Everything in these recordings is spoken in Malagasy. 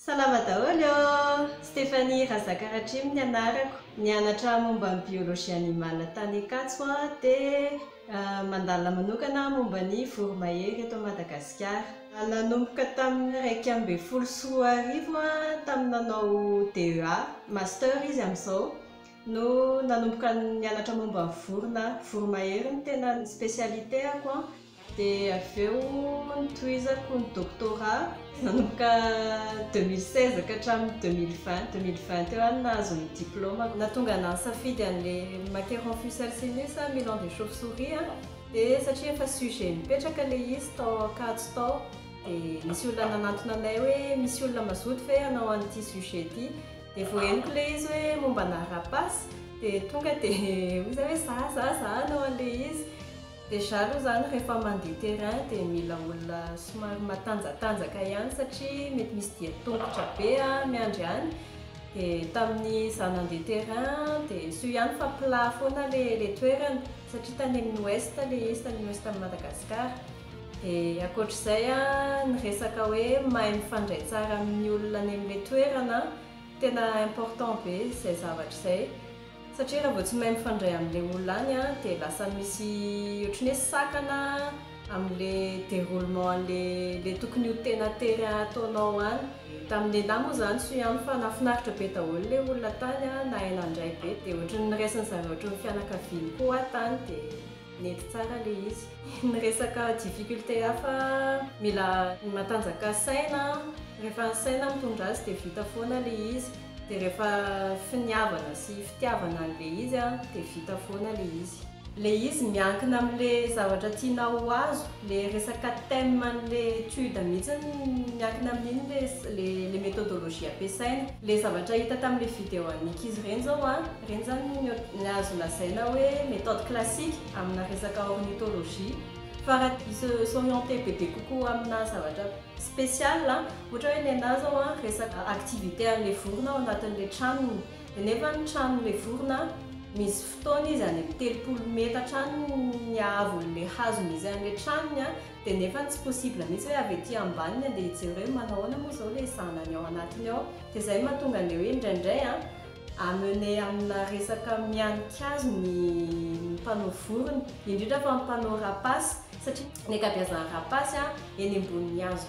Salama daholo ô! Stéphanie Razakaratrimo ny anarako, nianatra momba ny biologie animale tany Ankatso aho dia mandalina manokana aho momba ny voromahery eto Madagasikara. Nanomboka tamin'ny iraika ambin'ny folo sy roa arivo aho tamin'ny nanao DEA, master izy amin'izao, no nanomboka nianatra momba ny vorona voromahery ny tena ny spécialité-ako an, dia avy eo notohizako ny doctorat nanomboka deux mille seize ka hatramin'ny deux mille vingt, deux mille vingt teo aho no nahazo ny diplaomako. Nahatonga anà nisafidy an'ilay Macaron fusalcinus aho, Milan des chauves souris an, dia satria efa sujet nipetraka ilay izy tao Ankatso tao, dia nisy olona nanantona anay hoe misy olona mazoto ve hanao an'ity sujet ity? Dia vao henoko ilay izy hoe momba anà rapace dia tonga dia hoy izahay hoe za za za hanao an'ilay izy. Déjà aloha izany rehefa mandeha terrain dia mila olona somary matanjatanjaka ihany satria mety misy dian-tongotra be miandry any. Dia tamin'izaho nandeha terrain dia soa ihany fa plat foana ilay toerana satria tany amin'ny ouest ilay izy, tany ouest an'i Madagasikara. Dia ankoatr'izay ny resaka hoe mahay mifandray tsara amin'ny olona any amin'ilay toerana, tena important be izay zavatra izay satria raha vao tsy mahay mifandray amin'ilay olona any dia lasa misy ohatran'ny hoe sakana amin'ilay déroulement an'ilay tokony ho tena tery ataonao any. Tamin'ny nenà moa izany soa ihany fa nahafinaritra be daholo ilay olona tany, nahay nandray be dia ohatran'ny niraisin'izareo ohatran'ny fianakaviany koa aho tany dia. Nety tsara le izy. Ny resaka difficulté hafa mila matanjaka saina rehefa ny saina mitondra azy dia vita foana le izy dia rehefa finiavana sy fitiavana anle izy dia vita foana le izy. Le izy miankina amle zavatra tianao ho azo, le resaka thème anle étude mihitsy miankina amin'iny le le méthodologie ampiasaina. Le zavatra hita tamle video an'ny ankizy ireny zao an, Ireny izany no azo lazaina hoe méthode classique amina resaka ornithologie. Fa raha i se s'orienter bebe kokoa amina zavatra spécial, ohatra hoe nenà izao resaka activité an'ilay vorona ao anatin'ilay tranony. Dia nefa ny tranon'ilay vorona misy fotoana izy any amin'ny telopolo metatra any ny haavon'ilay hazo misy an'ilay tranony, dia nefa tsy possible mihitsy hoe avy ety ambany ny handeha hijery hoe manao ahoana moa izao ilay zanany ao anatiny ao. Dia izay no mahatonga an'ilay hoe indraindray. Amener amina resaka mihanin-kazo ny mpanao vorona, indrindra fa ny mpanao rapace, satria ny ankabiazan'ny rapace eny ambonin'ny hazo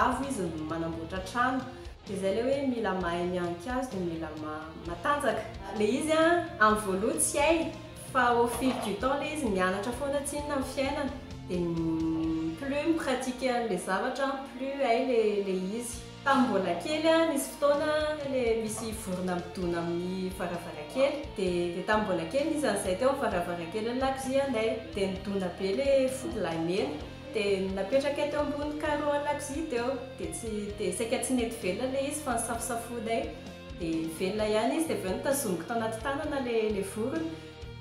avo izy no manamboatra trano. Dia izay ilay hoe mila mahay mihanin-kazo dia mila matanjaka. Ilay izy amin'ny voaloha tsy hay, fa au fil du temps ilay izy mianatra foana tsinona amin'ny fiainana, dia plus mi-pratiquer an'ilay zavatra, plus hay ilay izy. Tamin'ny mbola kely aho, nisy fotoana le misy vorona midona amin'ny varavarankely. Dia dia tamin'ny mbola kely nisy an'izay teo amin'ny varavarankely lakozianay. Dia nidona be le fody lahy mena. Dia napetrakay teo ambony carreau lakozia teo. Dia tsy dia saika tsy nety velona le izy fa nosafosafoinay. Dia velona ihany izy. Dia avy eo notazomiko tao anaty tanana le le vorona.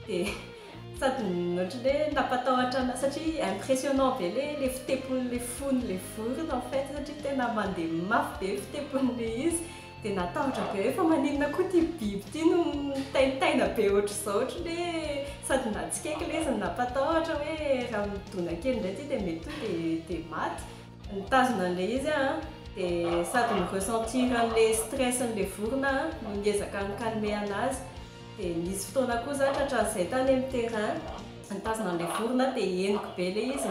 Dia. Sady ohatran'ny hoe nampatahotra anao satria impressionnant be le le fitepon'ny le fon'ny le vorona en fait satria tena mandeha mafy be fitepon'ny le izy de natahotra be hoe fa maninona koa ty biby ty no mitaintaina be ohatr'izao ohatran'ny hoe sady natsikaiky le izy no nampatahotra hoe raha midona kely indray ty de mety hoe de de maty. Nitazona an'ilay izy aho an, dia sady mi-ressentir an'ilay stress-n'ilay vorona aho no niezaka ni-calmer an'azy, dia nisy fotoana koa za tratran'izay tany amin'ny terrain, nitazona an'ilay vorona aho dia henoko be ilay izy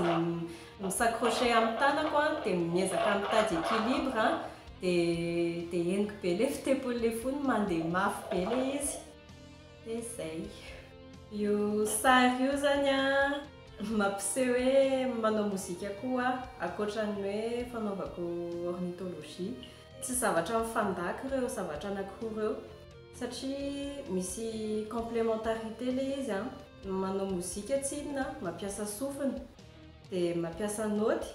mi-s'accrocher amin'ny tanako an, dia miezaka mitady équilibre an, dia henoko be ilay fitempon'ilay fony, mandeha mafy be ilay izy. dia zay. Io sary io zany an, mampiseho hoe manao mozika koa aho ankoatran'ny hoe fanaovako ornithologie. Tsy zavatra mifandaka ireo zavatra anankiroa ireo satria misy complémentarité ilay izy an, manao mozika tsy inona an, mampiasa sofina dia mampiasa naoty.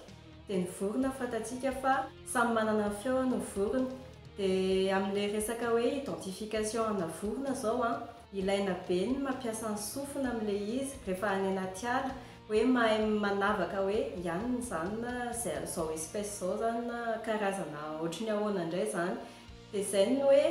dia ny vorona fantatsika fa samy manana ny feony ny vorona dia amin'ilay resaka hoe identification ana vorona izao an, ilaina be ny mampiasa ny sofina amin'ilay izy rehefa any anaty ala hoe mahay manavaka hoe iany ny izany na izao espèce izao izany na karazana ohatry ny ahoana indray izany dia izay ny hoe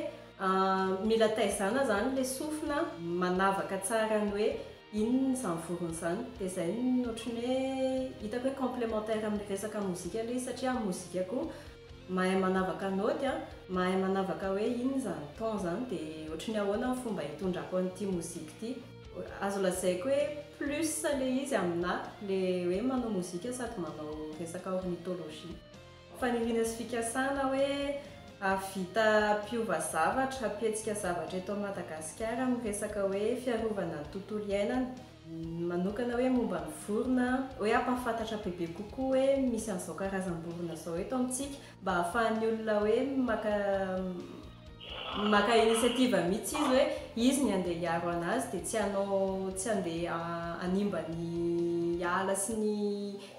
mila taizana izany ilay sofina manavaka tsara ny hoe Inona izany vorona izany? Dia izay no ohatran'ny hoe hitako hoe complémentaire amin'ny resaka mozika ilay izy satria amin'ny mozika koa mahay manavaka naoty an, mahay manavaka hoe inona izany ton izany dia ohatran'ny ahoana ny fomba hitondrako an'ity mozika ity. Azo lazaiko hoe plus ilay izy aminà ilay hoe manao mozika sady manao resaka ornithologie. Faniriana sy fikasana hoe hahavita mpiova zavatra, hampihetsika zavatra eto Madagasikara amin'ny resaka hoe fiarovana ny tontolo iainana. Ny manokana hoe momba ny vorona, hoe hampahafantatra bebe kokoa hoe misy an'izao karazam-borona izao eto amintsika mba ahafahan'ny olona hoe maka. Maka initiative mitsy izy hoe izy ny andeha hiaro anazy dia tsy hanao tsy handeha hanimba ny ala sy ny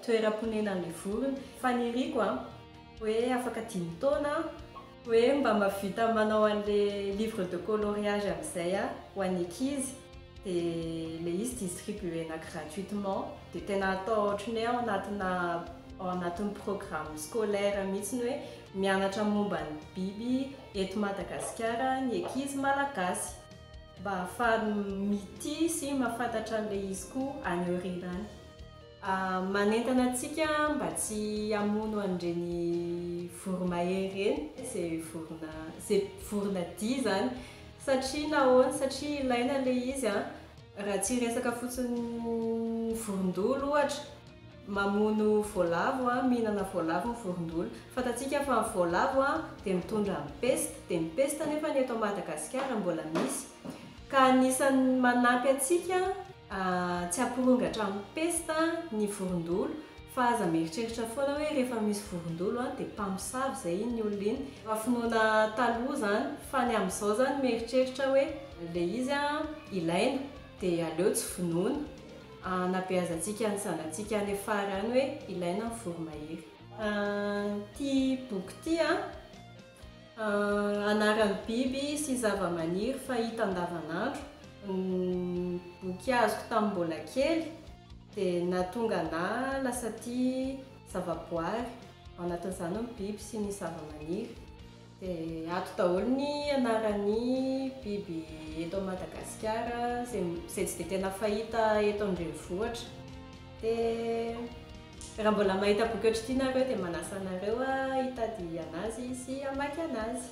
toeram-ponenan'ilay vorona. Faniriako an! hoe afaka dimy taona an! hoe mba mahavita manao an'ilay livre de coloriage amin'izay an! ho an'ny ankizy dia ilay izy distribuena gratuitement dia tena atao ohatran'ny hoe ao anatina ao anatin'ny programme scolaire mitsy ny hoe Mianatra momba ny biby eto Madagasikara ny ankizy malagasy mba ahafahany mitia sy mahafantatra an'ilay izy koa any aoriana any. Manentana antsika mba tsy hamono an'ireny voromahery ireny izay vorona izay vorona dia izany satria nahoana satria ilaina ilay izy an! Raha tsy hiresaka fotsiny ny vorondolo ohatra. Mamono voalavo, mihinana voalavo ny vorondolo. Fantatsika fa ny voalavo dia mitondra ny pesta, dia ny pesta anefa ny eto Madagasikara mbola misy ka anisan'ny manampy antsika tsy hampirongatra amin'ny pesta ny vorondolo fa aza mieritreritra foana hoe rehefa misy vorondolo dia mpamosavy izay iny olona iny fa finoana taloha izany fa ny amin'izao izany mieritreritra hoe ilay izy ilaina dia aleo tsy vonoina, hanabeazantsika ny zanatsika any afara any hoe ilaina ny voromahery. Ity boky ity an, anaran'ny biby sy zavamaniry fahita andavanandro. Ny boky azoko tamin'ny mbola kely dia nahatonga anah lasa tia zavaboary, ao anatin'izany ny biby sy ny zavamaniry. Dia ato daholo ny anaran'ny biby eto Madagasikara izay tsy dia tena fahita eto an-drenivohitra. Dia raha mbola mahita boky ohatr'ity nareo dia manasa anareo hitady anazy sy hamaky anazy.